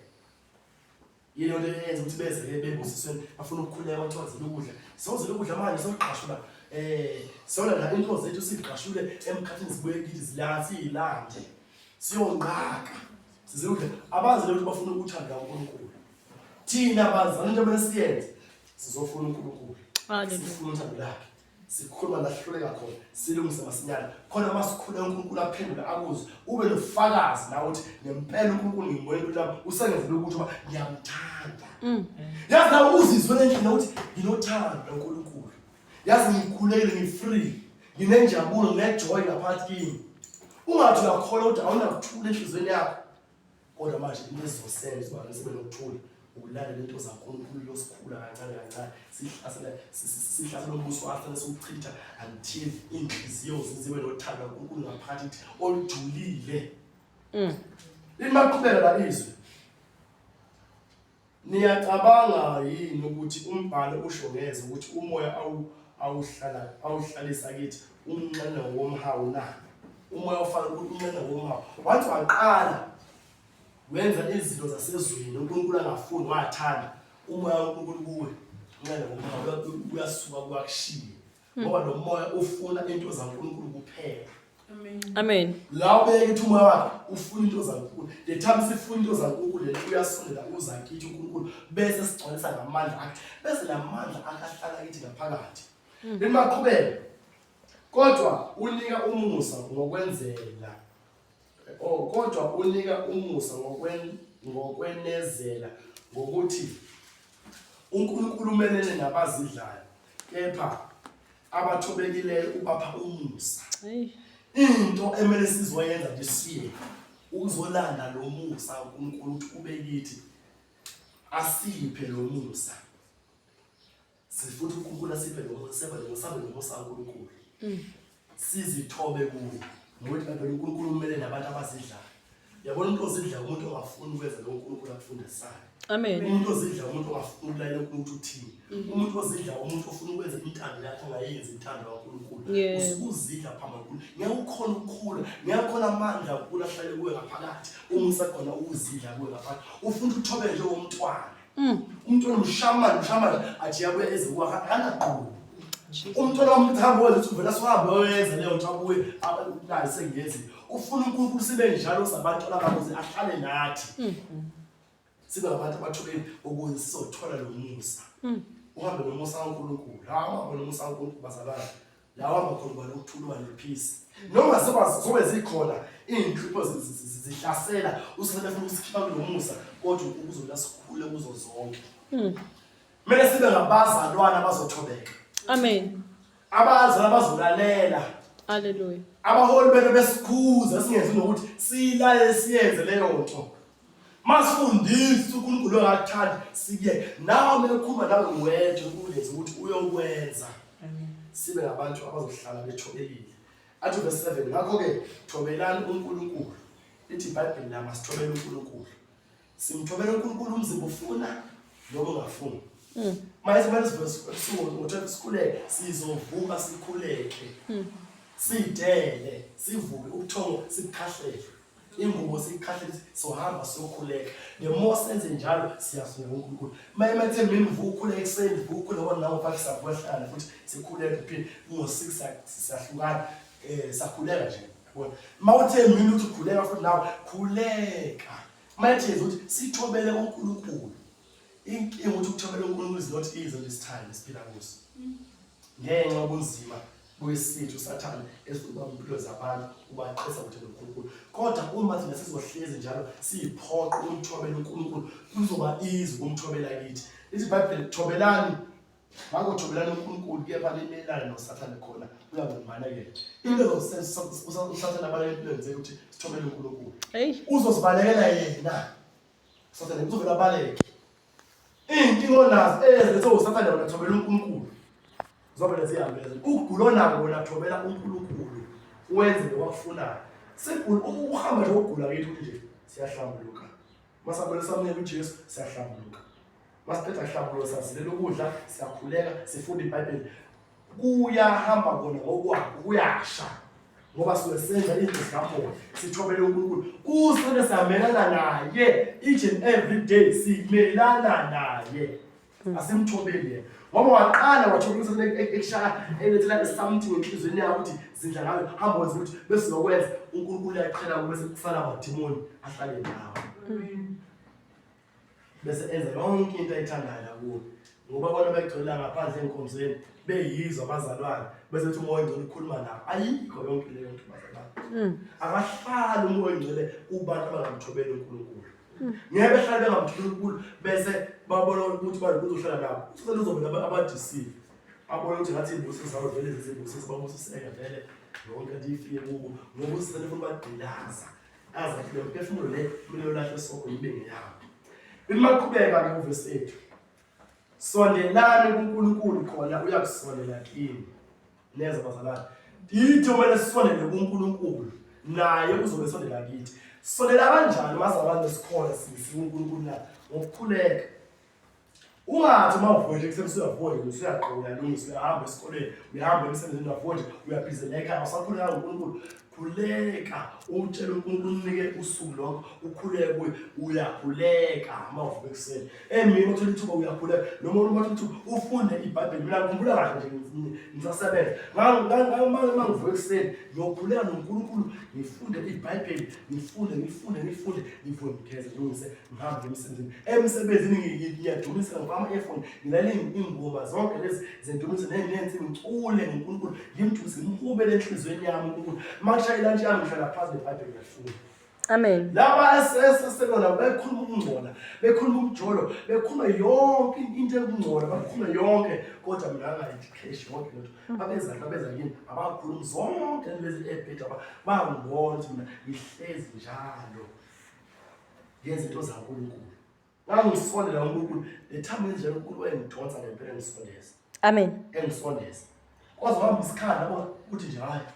yini onto eyenza ukuthi beze bebusisweni bafuna ukukhuleka bathwazela ukudla sewozela ukudla manje sewugqashula eh sona la into zethu sigqashule emkhathini sibuye kithi zilathi ilande siyonqaka sizudle abazi ukuthi bafuna ukuthanda uNkulunkulu thina bazana into abesiyenze sizofuna uNkulunkulu sifuna uthando lakhe sikhuluma lahluleka khona silungise masinyane khona masikhuleka uNkulunkulu aphendule akuze ube nofakazi la ukuthi ngempela uNkulunkulu ngimboyela ukuthi lapho usengenzela ukuthi uba ngiyamthanda mm. yazi la uzizwe ngendlela ukuthi nginothando loNkulunkulu yazi ngikhulekile ngifree nginenjabulo nginejoy ngaphakathi kimi ungathi uyakholwa ukuthi awunakuthula enhliziyweni yakho kodwa manje into esizosenza ubana sibe nokuthula ukulalela into zankulunkulu losikhula kancane kancane sihlasela sihlasela umbuso afane siwuchitha until iinhliziyo zizibe nothando kankulunkulu ngaphathi ithi olujulile mm. ini baqhubeka lalizwe Niyacabanga yini ukuthi umbhalo usho ngeze ukuthi umoya awu awuhlala awuhlalisa kithi umnxene womhawu na? Umoya ufana ukuthi umnxene womhawu. Wathi waqala wenza izinto zasezweni uNkulunkulu angafuni wathanda umoya uNkulunkulu kuwe. Umnxene womhawu uyasuka kwakushiye. ngoba lo moya ufuna into zaNkulunkulu kuphela amen la ubeke ukuthi umoya wakhe ufuna into zaNkulunkulu the time sifuna into zaNkulunkulu lento uyasondela uza kithi uNkulunkulu bese sigcwalisa ngamandla akhe bese la mandla akahlala kithi ngaphakathi hmm. limaqhubeka kodwa unika umusa ngokwenzela Oh, kodwa unika umusa ngokwen ngokwenezela ngokuthi uNkulunkulu umelene nabazidlayo kepha abathobekileyo ubapha umusa. Hayi. Into emele sizoyenza nje siye ukuzolanda lo musa uNkulunkulu ukuthi ube kithi asiphe lo musa. Sifuna uNkulunkulu asiphe noma useba noma usabe noma usaNkulunkulu. Mm. Sizithobe kuye. Ngokuthi kanti uNkulunkulu umele nabantu abazidlayo. Yabona umuntu ozidla umuntu ongafuni ukwenza lo uNkulunkulu akufundisayo. Amen. Umuntu ozidla umuntu ongafuni ukulalela uNkulunkulu uthini. Mm. Umuntu ozidla umuntu ofuna ukwenza intando yakhe ongayenzi intando kaNkulunkulu. Usukuzidla phambi kaNkulunkulu. Ngiyawukhona ukukhula, ngiyakhona amandla ukulahlale kuwe ngaphakathi. Uma usakhona ukuzidla kuwe ngaphakathi. Ufuna ukuthobe nje womntwana. Mm. Umntwana umshamana umshamana athi yabuya ezikwakha angaqhubi. Umntwana wami uthambo wenza ukuthi uvela sihambe oyenza leyo nto abuye naye sengenzi. Ufuna uNkulunkulu sibe njalo sabantu abakuze ahlale nathi. Mm. Sibe abantu abathobeni ukuze sizothola lo musa. Mm. Uhambe nomusa kaNkulunkulu. Hamba nomusa kaNkulunkulu bazalwane. lawa makhulu bani ukuthulwa nephisi noma sekwazi zobe zikhona iy'nhlupho zihlasela usingabe funa ukusikhipha kulo musa kodwa ukuzona sikhule kuzo zonke hmm. kumele sibe ngabazalwana abazothobeka amen abazalwana abazolalela aleluya abaholi benu besikhuza singenzi nokuthi siyilalele siyenze leyo nto Masifundise uNkulunkulu ongakuthandi siye nawe mekhuma nawe wedwa ukuleza ukuthi uyokwenza sibe ngabantu abazohlala bethobekile athi verse 7 ngakho ke thobelani uNkulunkulu lithi iBhayibheli lama sithobela uNkulunkulu simthobela uNkulunkulu umzimba ufuna noma ungafuni hmm. manje kumele sivuke ukuthi sikhuleke sizovuka sikhuleke hmm. sidele sivuke ubuthongo sikhahlele ingubo siyikhahlele sohamba siyokhuleka the more senze njalo siyasungela uNkulunkulu maye mathe mina ngivukhula ekuseni ngivukhula wona nawo mfaka sabuhlala futhi sikhuleka phinde ngo 6 siyahlukana eh sakhuleka nje yabona mawuthe mina uthi khuleka futhi nawe khuleka mayithi ukuthi sithobele uNkulunkulu inkinga ukuthi ukuthobela uNkulunkulu is not easy this time siphila kuso ngenxa ubunzima kuyisithi usathane esizoba impilo zabantu ubaqisa ukuthi noNkulunkulu kodwa uma thina sizohlezi njalo siyiphoqa ukumthobela uNkulunkulu kuzoba easy ukumthobela kithi lithi ibhayibheli thobelani makothobelani uNkulunkulu kepha limelane nosathane khona uyangumana ke into ezosenza usathane abaleke empilweni zethu ukuthi sithobele uNkulunkulu uzozibalekela yena usathane uzovela abaleke Iy'nkinga onazo ezenze usathane wona thobela uNkulunkulu. Zobele ziyambeza. Ukugula onako wona thobela uNkulunkulu. Wenze lokwakufunayo. Sigula ukuhamba nje ukugula kithi ukuthi nje siyahlambuluka. Masabele samnye kuJesu siyahlambuluka. Masiqeda kuhlambuluka sazilela ukudla, siyakhuleka, sifunda iBhayibheli. kuyahamba kona ngokwakho kuyasha ngoba suke senza izinto zikamoya sithobele uNkulunkulu kusele siyamelana naye each and every day simelana naye mm. asimthobeli yena ngoba waqala wathola ukuthi e-, e-, ekushaya elethela something enhlizweni yakho ukuthi zindla ngayo hamba wenza ukuthi bese lokwenza uNkulunkulu uyaqhela kube sekusala amadimoni ahlale nawe mm. bese enza yonke into ayithandayo nakubo ngoba bona begcwela ngaphandle enkonzweni beyizwa abazalwane bese kuthi umoya ongcwele ukhuluma nabo ayikho yonke leyo nto bazalwane mm. akahlali umoya ongcwele kubantu abangamthobeli unkulunkulu mm. ngeke behlale bengamthobeli unkulunkulu bese babona ukuthi bantu kuzohlala nabo usele uzobona abadisiwe abona ukuthi ngathi izibusiso zabo vele zizibusiso babusiseka vele yonke nto ifike kubo ngoba usele funa ubagqilaza azathi le mphefumulo le kumele ulahle isoko ibe ngeyawo imaqhubeka ke uvesi ethu sondelani kuNkulunkulu khona uyakusolela kini neza bazalwane yithi kumele sisondele kuNkulunkulu naye uzobe sondela kithi sondela kanjani maze abantu sikhona sisi uNkulunkulu na ngokukhuleka Ungathi uma uvuka nje ekuseni usuyavuka nje usuyaqoka uyalungisa uyahamba esikoleni uyahamba emsebenzini uyafunda uyabhizeleka ekhaya usakhuleka ngoNkulunkulu khuleka utshele uNkulunkulu unike usuku lokho ukhuleke kuye uyakhuleka uma uvuka ekuseni emini uthola ithuba uyakhuleka noma uma uthola ithuba ufunde ibhayibheli mina ngikhumbula kahle nje ngisasebenza ngangimane uma ngivuka ekuseni ngiyokhuleka noNkulunkulu ngifunde ibhayibheli ngifunde ngifunde ngifunde ngivuke ngigeze ngilungise ngihambe emsebenzini emsebenzini ngiyadumisa ngoba ama-earphone ngilalela iy'ngoma zonke lezi zendumiso nenensi ngicule ngonkulunkulu ngimdumise ngimhubele enhliziyweni yami unkulunkulu uma kushaya ilantshi yami ngihlala phansi nebhayibheli ngiyafunda Amen. Laba eseselona bekhuluma ukungcola, bekhuluma umjolo, bekhuluma yonke into ekungcola, bakhuluma yonke kodwa mina ngayidikheshi yonke lento. abenza nto abenza yini abakhulumi zonke lezi ebheda bangibona ukuthi mina ngihlezi njalo ngenza into zankulunkulu ngangisondela unkulunkulu nethamba indlela unkulunkulu engidonsa ngempela engisondeza amen engisondeza kwaze wahamba isikhala ukuthi nje hhayi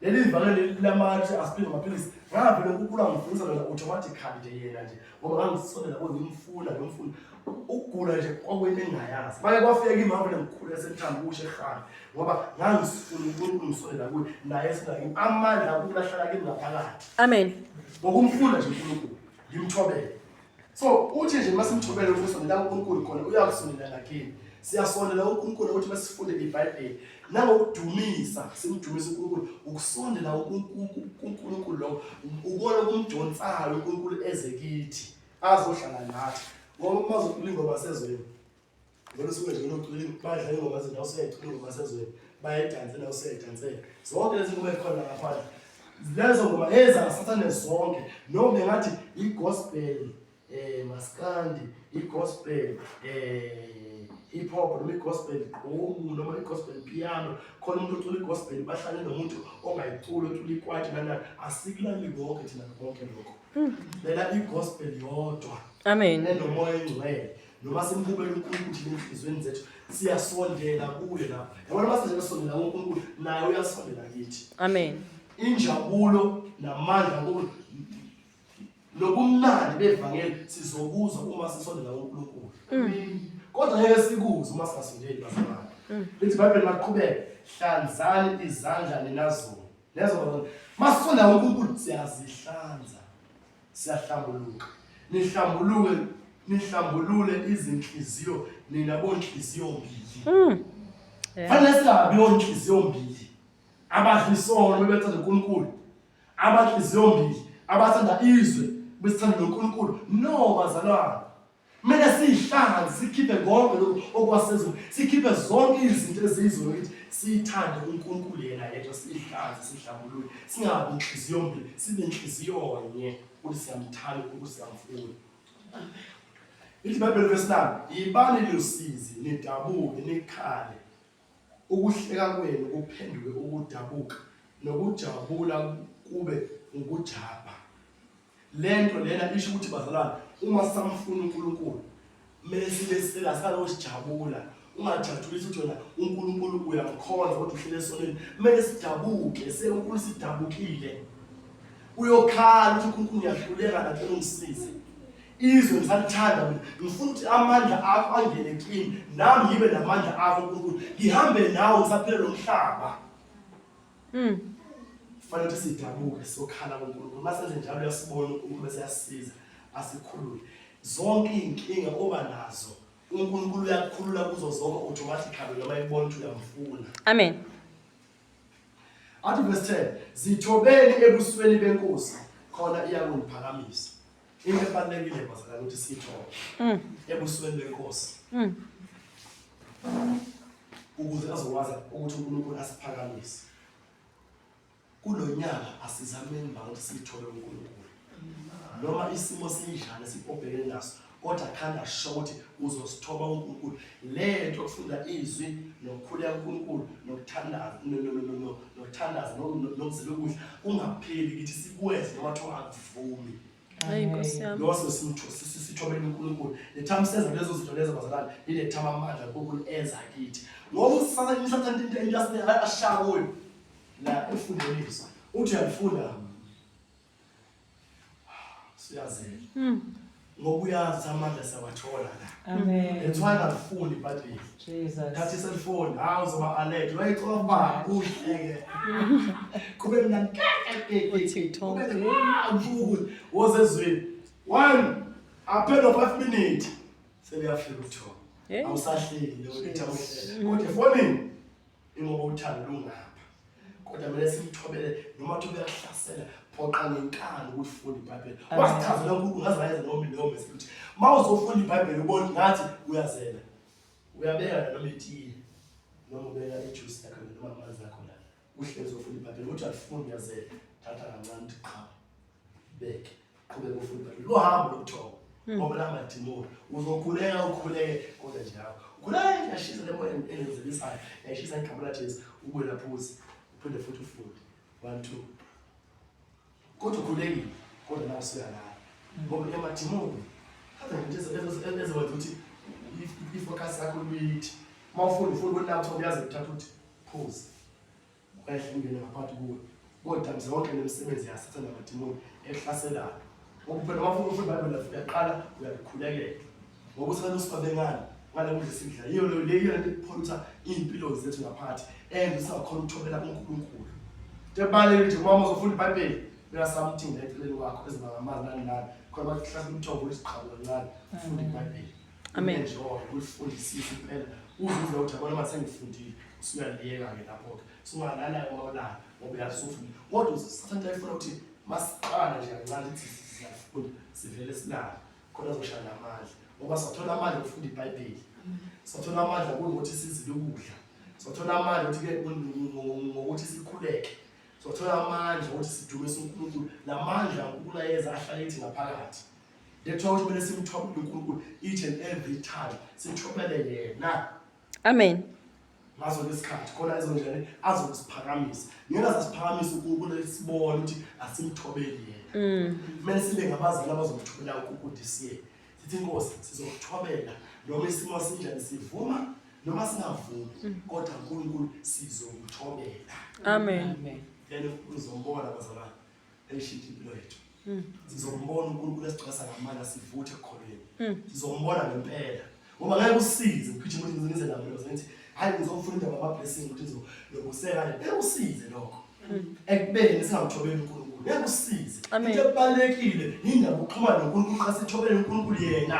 leli vane leli lamathi asiphinda amaphilisi ngavele ukugula ngifundisa lona automatically nje yena nje ngoba ngangisolela bo ngimfuna ngimfuna ukugula nje kwakwento engingayazi maye kwafika imama lengikhulu yasemthanda kusho ehamba ngoba ngangisifuna unkulunkulu ngisolela kuye naye esinayo amandla ukulahlala kimi ngaphakathi amen ngokumfuna nje unkulunkulu ngimthobele so uthi nje uma simthobele ukuthi sondela kuNkulunkulu khona uyakusondela nakini siyasondela uNkulunkulu ukuthi masifunde iBhayibheli nangokudumisa simdumisa uNkulunkulu ukusondela uNkulunkulu lo ukona kumdonsayo uNkulunkulu eze kithi azohlala nathi ngoba uma zokulinga basezweni Ngeke suke nje unocwili badla ingoma zethu awusecula ingoma sezweni bayedanse nawo sedansela zonke lezi ngoma ezikhona lapha lezo ngoma ezasathane zonke noma bengathi i-gospel eh maskandi i-gospel eh hip hop noma i-gospel gqomu noma i-gospel piano khona umuntu ocula i-gospel bahlale nomuntu ongayiculi ocula ikwati nana asikulali konke thina konke lokho lela i-gospel yodwa amen nenomoya engcwele noma simbukele uNkulunkulu thina ezinhlizweni zethu siyasondela kuye lapha yabona uma sizesondela kuNkulunkulu naye uyasondela kithi amen injabulo namandla kulo nobumnandi bevangeli sizokuzwa uma sisondela kuNkulunkulu mm. kodwa ngeke sikuze uma singasondeli bazalwane mm. lithi ibhayibheli maqhubeke hlanzani izandla ninazona nezona masisondela kuNkulunkulu siyazihlanza siyahlambuluka nihlambuluke nihlambulule izinhliziyo nina bonhliziyo mbili mm. fanele singabi onhliziyo mbili abadla isono bebethanda unkulunkulu abanhliziyo mbili abathanda izwe besithanda nonkulunkulu no bazalwane Kumele siyihlanganise sikhiphe konke lokhu okwasezulu, sikhiphe zonke izinto eziyizona ukuthi siyithande uNkulunkulu yena yedwa, siyihlanze, sihlambulule, singabi inhliziyo mbi, sibe inhliziyo nye ukuthi siyamthanda uNkulunkulu, siyamfuna. Ithi iBhayibheli verse 9, yibani losizi, nidabuke, nikhale Ukuhleka kwenu kuphenduke ukudabuka nokujabula kube ngukujabha. Le nto lena isho ukuthi bazalwane uma samfuna uNkulunkulu kumele sibe sicela silalokho sijabula ungajatshulisi ukuthi wena uNkulunkulu uyamkhonza kodwa uhlele esonweni kumele sidabuke senkulu sidabukile uyokhala ukuthi uNkulunkulu uyahluleka nathi ungisize izwe ngisalithanda mina ngifuna ukuthi amandla akho angene kimi nami ngibe namandla akho nkulunkulu ngihambe nawe ngisaphile lo mhlaba mm. kufanele ukuthi sidabuke sokhala kunkulunkulu uma senze njalo uyasibona unkulunkulu bese yasisiza asikhulule zonke iy'nkinga oba nazo unkulunkulu uyakukhulula kuzo zonke automatically noma ibona ukuthi uyamfuna amen athi verse 10 zithobeni ebusweni benkosi khona iyakungiphakamisa Into ebalulekile bazalwane ukuthi siyithole mm. ebusweni benkosi mm. ukuze azokwazi ukuthi uNkulunkulu asiphakamise kulo nyaka asizameni ba ukuthi sithole uNkulunkulu noma isimo sinjani sibhobhekene naso kodwa khanda asho ukuthi uzosithoba uNkulunkulu le nto okufunda izwi nokukhuleka uNkulunkulu nokuthandaza nokuthandaza nokuzila ukudla kungapheli kithi sikwenze noma kuthiwa vumi Hayi Nkosi yami. lowo sesimtho- si- si- sithobele unkulunkulu nethamseza lezo zinto lezo bazalwane lilethama amandla unkulunkulu enza kithi ngoba usisana isathanda into into yasine ashaya kuyo la efundweni yethu uthi uyalifunda siyazela ngoba uyazi amandla siyawathola la Amen. that's why ngalifundi ibhayibheli Jesus. khathi selifoni hawu zoba alert wayixoba uhleke kube mna uTikTok woze ezweni one aphela 5 minutes sebeyafika uThoko Hey. awusahleli leyo ithi awuhlele kodwa efonini ingoba uthando lungapha kodwa mina simthobele noma kuthi uyakuhlasela phoqa ngenkani ukufunda ibhayibheli wasichazela unkulunkulu ngaze ngayenza noma leyo mesi ukuthi uma uzofunda ibhayibheli ubone ngathi uyazela uyabeka nanoma itiye noma ubeka ijuice yakho noma amanzi akho la uhlezi ufunda ibhayibheli ukuthi alifuni uyazela thatha kancane uthi qha beke qhubeka ufunde ibhayibheli lohambo lokuthoma hmm. ngoba langadimoni uzokhuleka ukhuleke kodwa nje yakho ukhuleka yashisa le moya elenzelisayo yashisa igama lajesu ubuye laphuzi uphinde futhi ufunde one two kodwa ukhulekile kodwa nawe suyalala hmm. ngoba emadimoni aza nje ezowenza ukuthi ifocus yakho luyithi uma ufunda ufunda ukuthi lapho uyazi uthatha ukuthi phuze Ukwehla ungene ngaphakathi kuwe. Kodamisa yonke le misebenzi yasathana namadimoni ehlaselayo. Ngokuphela wafuna ukuthi iBhayibheli lafika kuqala uyakhulekela. Ngokuthi abantu sibabengani ngale kudla esidla. Yiyo leyo leyo lento epholutha iy'mpilo zethu ngaphakathi enze singakhona ukuthobela kuNkulunkulu. Tebalele nje mama uzofunda iBhayibheli uyasamthinda eceleni kwakho eziba ngamanzi nani nani khona bathi hlahla umthombo wesiqhabo kancane ufunde iBhayibheli. Amen. Njengoba ulifundisisa impela uvuza ukuthi abona uma sengifundile usuyaliyeka-ke lapho-ke sungalala olala ngoba uyazi usufundile kodwa usathatha ifuna ukuthi masiqala nje kancane ukuthi siyafunda sivele silale khona zoshaya namandla ngoba sathola amandla okufunda ibhayibheli sathola amandla kunokuthi sizile ukudla sathola amandla ukuthi-ke ngokuthi sikhuleke sathola amandla ukuthi sidumise unkulunkulu la mandla unkulunkulu ayeza ahlale ethi ngaphakathi That's why kumele simthobele uNkulunkulu each and every time. Sithobele yena. Amen. Ngazo lesikhathi khona ezonjene azosiphakamisa. Ngeke azosiphakamisa uNkulunkulu esibona ukuthi asimthobeli yena. Mm. Kumele sibe ngabazali abazomthobela uNkulunkulu this year. Sithi inkosi sizokuthobela noma isimo sinjani sivuma noma singavumi mm. kodwa uNkulunkulu sizokuthobela. Amen. Amen. Then uzombona bazalwane. Elishidi impilo yethu. Mm. Sizombona uNkulunkulu esiqasa ngamandla sivuthe ekholweni. Mm. Sizombona ngempela. Ngoba ngeke usize uphithe ukuthi ngize lapho lo sengithi hayi ngizofuna indaba ama blessing ukuthi ngizo lokuseka nje. Ngeke usize lokho. Mm. Ekubeni singamthobeli uNkulunkulu. Ngeke usize. Into ebalekile indaba ukuxhumana noNkulunkulu qasithobele uNkulunkulu yena.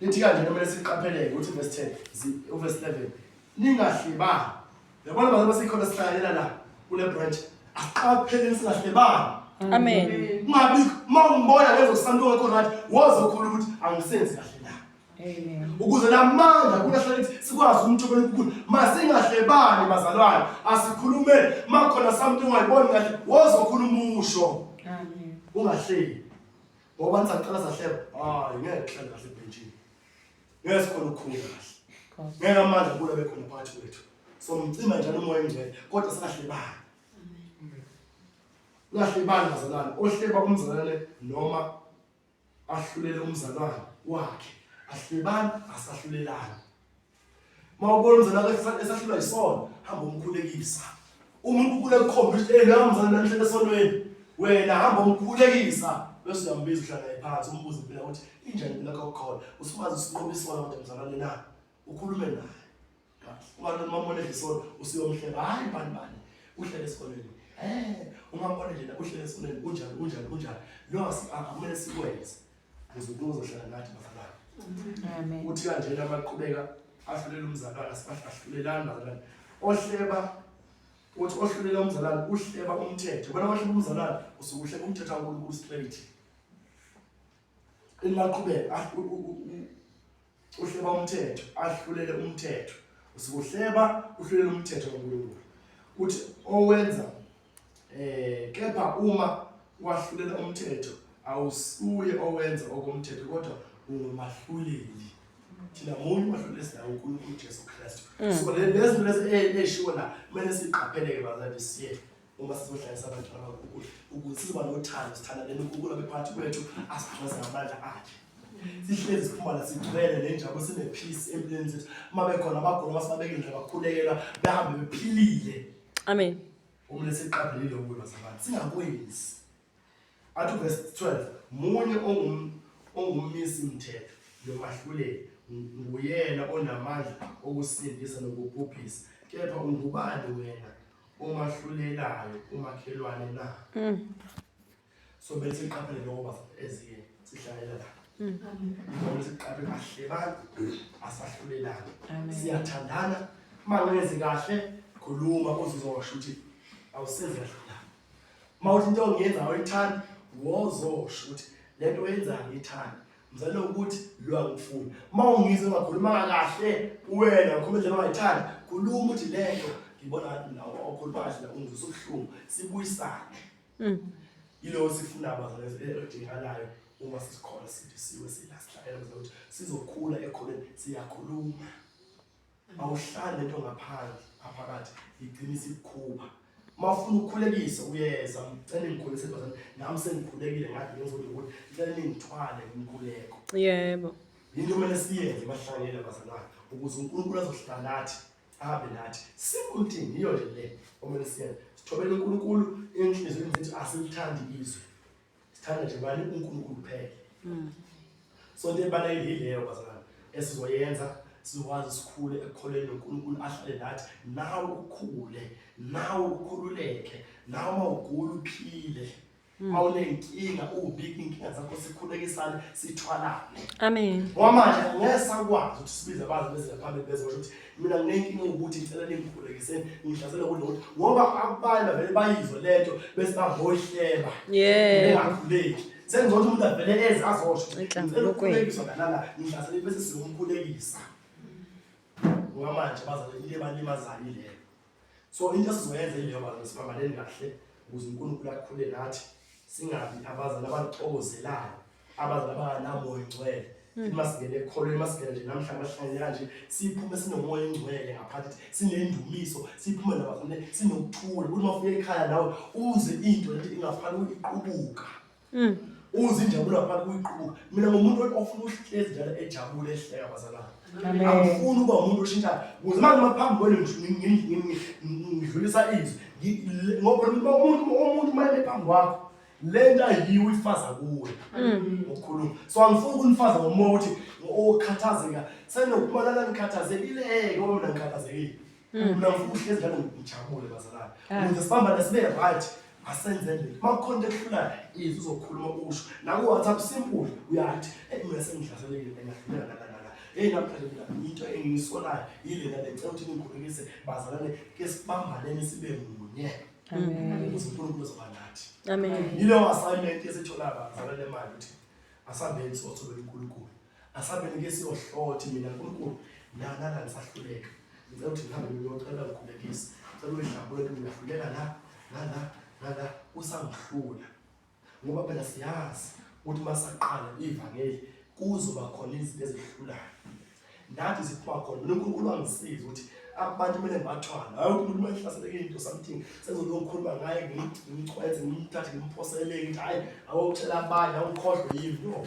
Lithi kanje kumele siqapheleke ukuthi verse 10 zi- uverse 11 ningahlebani yabona abantu basikhona sihlalela la kule branch asiqapheleni singahlebani Amen. kungabi uma ungibona lezo santo wekho right wozokhula ukuthi angisenzi kahle na ukuze namandla kunahlala lithi sikwazi ukumthobela unkulunkulu masingahlebani bazalwane asikhulumeni makhona something ungayiboni kahle wozokhula umusho ungahleli Ngoba nisaqala sahleba. Hayi ngeke kuhlale kahle ebhenjini. Ngeke sikhona ukukhula kahle. Ngeke amandla kula bekhona phakathi kwethu. So mcima njalo umoya engcwele kodwa singahlebani. Lahlebani bazalwane ohleba umzalwane noma ahlulele umzalwane wakhe. Ahlebani asahlulelani. Uma ubona umzalwane wakho esahlulwa yisono, hamba umkhulekisa. Uma unkulunkulu ekukhomba ukuthi ey nawe mzalwane namhlanje esonweni, wena hamba umkhulekisa bese uyambiza uhlala naye phansi umbuze impela ukuthi injani impela yakho khona. Usumazi usinqoba isono kodwa mzalwane na? Ukhulume naye. Uma nomamona edla isono usuyomhleba, hhayi bani bani, uhlele esikoleni. Eh, ungambona nje la uhlele esikoleni unjani unjani unjani. Lokho akumele sikwenze. uZulu uzohlala nathi bafana amen uthi kanje lamaqhubeka ahlulela umzalwana sibahlulelana bazalwane ohleba uthi ohlulela umzalwane uhleba umthetho bona ohleba umzalwane usuke uhleba umthetho waNkulunkulu straight imaqhubeka ah, uhleba umthetho ahlulele umthetho usikuhleba uhlulele umthetho kaNkulunkulu kuthi owenza eh kepha uma wahlulela umthetho awusuye owenza okomthetho kodwa ungumahluleli thina munye umahluleli esinawo uNkulunkulu uJesu Kristu mm. so lezi lezi eshiwo la kumele siqapheleke bazali siye uma sizohlalisa abantu abankukula ukuthi sizoba nothando sithandane nonkukula bephakathi kwethu asiphonze ngamandla akhe sihlezi siphumana sigcwele nenjabo sinephisi empilweni zethu uma bekhona abagula basibabeke nje bakhulekela behambe bephilile amen uma lesiqaphelile ukuba sabantu singakwenzi Athi uverse 12 munye ongum ongummisi mthetho nomahluleli nguyena onamandla okusindisa nokubhubhisa kepha ungubani wena omahlulelayo umakhelwane na so bese siqaphele lokho bafo eziye sihlalela la ngibona siqaphe kahle bantu asahlulelani siyathandana uma ngenzi kahle khuluma uzizwa washo ukuthi awusenzi kahle mawuthi into ongiyenza awuyithandi wozosho ukuthi le nto oyenzayo ngiyithandi mzalelo ukuthi lo angifuni uma ungizwe ungakhulumanga kahle kuwena ngikhuluma nje ongayithandi khuluma ukuthi le nto ngibona ngathi nawo okhuluma kahle la ungizwe usubuhlungu sibuyisane mm. yilowo sifuna abazalezidingakalayo uma sisikhona sidisiwe silasidlalela ukuthi sizokhula ekhoneni siyakhuluma awuhlali lento ngaphandle aphakathi igcina isikukhupha uma ufuna ukukhulekisa uyeza ngicela ngikhulise bazana nami sengikhulekile ngathi ngizodwa ukuthi ngicela ningithwale ngimkhuleko yebo yinto kumele siyenze bahlangele bazalwane ukuze unkulunkulu azohlala nathi ahambe nathi simple thing yiyo nje le okumele siyenze sithobele unkulunkulu enhliziyweni zethu asilithandi izwe sithanda nje bani uNkulunkulu kuphela mm. so into ebalulekile yileyo bazalwane esizoyenza sizokwazi sikhule ekukholeni uNkulunkulu ahlale nathi nawe ukhule nawe ukhululeke nawe uma ugula uphile hmm. uma unenkinga ubika inkinga zakho sikhulekisane sithwalane amen ngoba manje ngeke sakwazi ukuthi sibize abantu bezile phambili bezosho ukuthi mina nginenkinga ukuthi ngicela ningikhulekiseni ngihlasela kulona ngoba abanye bavele bayizwe le nto bese bahohleba Yeah. bengakhuleki sengcono umuntu avele eze azosho Ngicela Enhlanzulukweni. ukukhulekiswa ngalala ngihlasele bese sikumkhulekisa ngoba manje bazale into ebalimazayo ileyo so into esizoyenza ileyo bantu siphambaneni kahle ukuze unkulunkulu akhule nathi singabi abazali abaxokozelayo abazali abanganamoya ingcwele hmm. uma singene ekholweni uma singene nje namhla amahlanye kanje siphume sinomoya ingcwele ngaphathi sinendumiso siphume nabafune sinokuthula ukuthi uma ufika ekhaya nawe uze into lento ingafanele iqubuka Mm. Uze injabulo ngaphandle kuyiqubuka. Mina ngomuntu ofuna uhlezi njalo ejabule ehleka bazalwane. Amen. Angifuni ukuba umuntu oshintshayo. Kuze manje uma phambi kwenu ngidlulisa izwi. Ngi- le- Ngoba umuntu umuntu umuntu uma eme phambi kwakho lento ayiyiwo ifaza kuwe Mm. ngokukhuluma. So angifuni ukunifaza ngomoya ukuthi okhathazeka senokubalala nikhathazekile ngoba mina ngikhathazekile. Mina ngifuna uhlezi njalo ngijabule bazalwane. Ukuze sibambane sibe right asenze nje. Makukhona into ehlulayo izwi uzokhuluma usho. Naku WhatsApp simple uyathi eh mina sengihlaselekile engahluleka la la la. Hey namhlanje mina into engisolayo yilena lecela ukuthi ningikhulekise bazalwane ke sibambaneni sibe munye. Amen. Ukuze uNkulunkulu uzoba nathi. Amen. Yileyo assignment esithola bazalwane manje ukuthi asambeni sothobela uNkulunkulu. Asabeni ke siyohlothi mina nkulunkulu nanana ndisahluleka ngicela ukuthi ngihambe ngiyocela ngikhulekise ngicela uyidlabule ukuthi ngiyahluleka la nala nala usangihlula ngoba phela siyazi ukuthi uma saqala ivangeli kuzoba khona izinto ezihlulayo nathi ziphuma khona mina unkulunkulu angisize ukuthi abantu kumele ngibathwale hayi umuntu uma ehlaseleke into something sengizolokhuluma ngaye ngimchwethe ngimthathe ngimphosele ngithi hayi awokutshela abanye awukhohlwe yimi no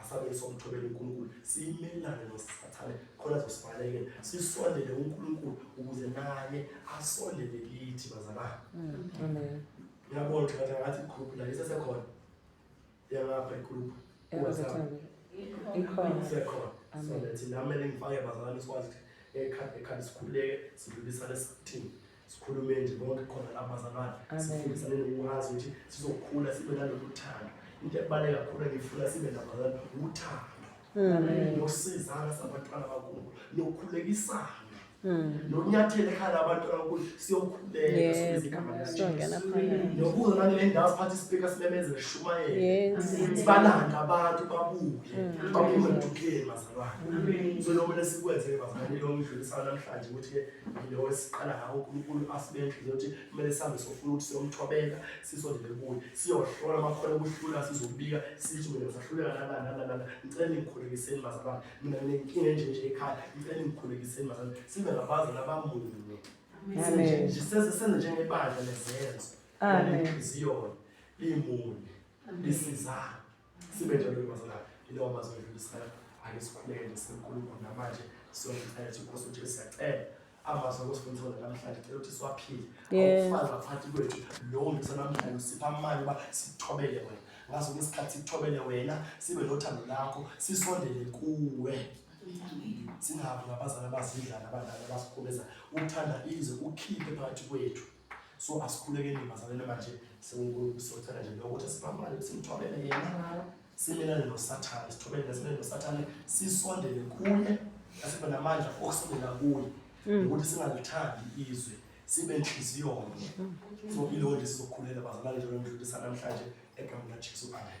asabe somthobela uNkulunkulu simelane nosathane khona zosibalekela sisondele uNkulunkulu ukuze naye asondele kithi bazalwane mm. amen ngiyabona ukuthi ngathi ngathi group la isesekhona yangapha igroup WhatsApp ikhona isekhona so lethi nami ngifake bazalwane sikwazi ukuthi ekhanda ekhanda sikhuleke sidlulisane sithini sikhulume nje bonke khona lapha bazalwane sifundisane nokwazi ukuthi sizokhula sibe nalolu thando into ebaluleke kakhulu engifuna sibe nabazalwane uthando mm. nokusizana sabantwana bakubo nokukhulekisana Hmm. nonyathela ekhaya labantu abakuthi siyokhuleka sibezigama nokuza nangele ndawo siphathe isipika simemeze sishumayele sibalanda abantu babuye hmm. baphume dukeni bazalwane so lomele sikwenze bazalwane lomdlulisana namhlanje ukuthi-ke lo esiqala ngawo uNkulunkulu asibe inhliziyo yokuthi kumele sihambe sofuna ukuthi siyomthobeka sisondele kuye siyohlola amakhono okuhlula sizobika sithi mina ngisahluleka nala nala nala ngicela ningikhulekiseni bazalwane mina nginenkinga enje nje ekhaya ngicela ningikhulekiseni bazalwane sibe ngabazali abamunye siseze senze njengebandla lezenzo inhliziyo limunye lisizana sibe njalo mazala yilawo mazwi edlulisayo ake sikhuleke nje sinkulunkulu namanje siyomcela ukuthi inkosi ujesu siyacela amazwi akusifundisa wona namhlanje cela ukuthi siwaphile awufani ngaphansi kwethu lowo ngisa namhlanje usipha amali uba sithobele wena ngaso ke isikhathi sithobele wena sibe nothando lakho sisondele kuwe singabi ngabazali abazidlana abadlali abasikhubeza ukuthanda izwe ukhiphe phakathi kwethu so asikhulekeni bazalele manje sinkulunkulu socela nje lokuthi sibambane simthobele yena simelane nosathane sithobele nesimele nosathane sisondele kuye asibe namandla okusondela kuye mm. nokuthi singalithandi izwe sibe nhliziyonye mm. so ilowo nje sizokhulela bazalwane njalo ngidlulisa namhlanje egameni lajesu amen